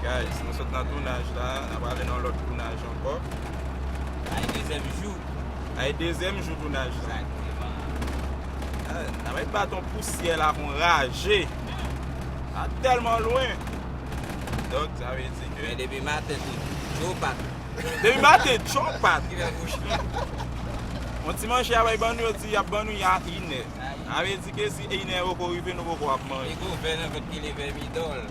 Guys nou sot nan tounaj la nan prale nan lòt tounaj ankò Ay dezyèm jou Ay dezyèm jou tounaj la Nan met baton pousyè la pou n raje Sa tèlman lwen Donk sa vle di ke Men depi maten tout Djo pat Depi maten djo pat Ki lè pou chita Yon ti manje ya bay ban nou yo di yap ban nou ya inè Sa vle di ke si inè poko rive nou poko ap manje Li gou vè nan vant ki leve midon l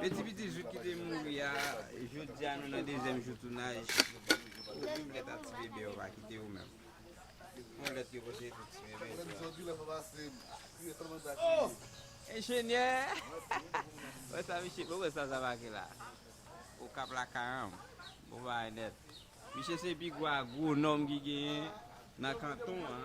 E ti piti jou ki te mouri a Jodi a nou nan dezyèm jou tounaj Ou menm lèt a ti bebe yo pa kite ou menm Bon lèt yo kote pou ti bebe yo a Enjenyè Wè sa mesye bon wè sa sa make la Okap la karanm Bon bagay nèt Misye se pi gwo agwonòm ki genyen nan kanton an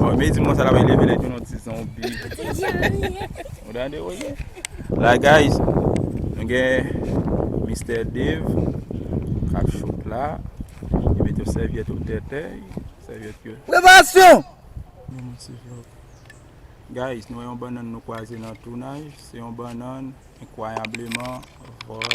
Mwen di mwen sa la wè leve lè joun an ti zonbi. Mwen dande wè gen. La guys, mwen gen Mr. Dave kap shoot la. Mwen met yon sèvyèt ou tètè. Sèvyèt yo. Preparasyon! Mwen mwen ti vlog. Guys, nou wè yon bannan nou kwaze nan tounaj. Se yon bannan enkwayableman vòl.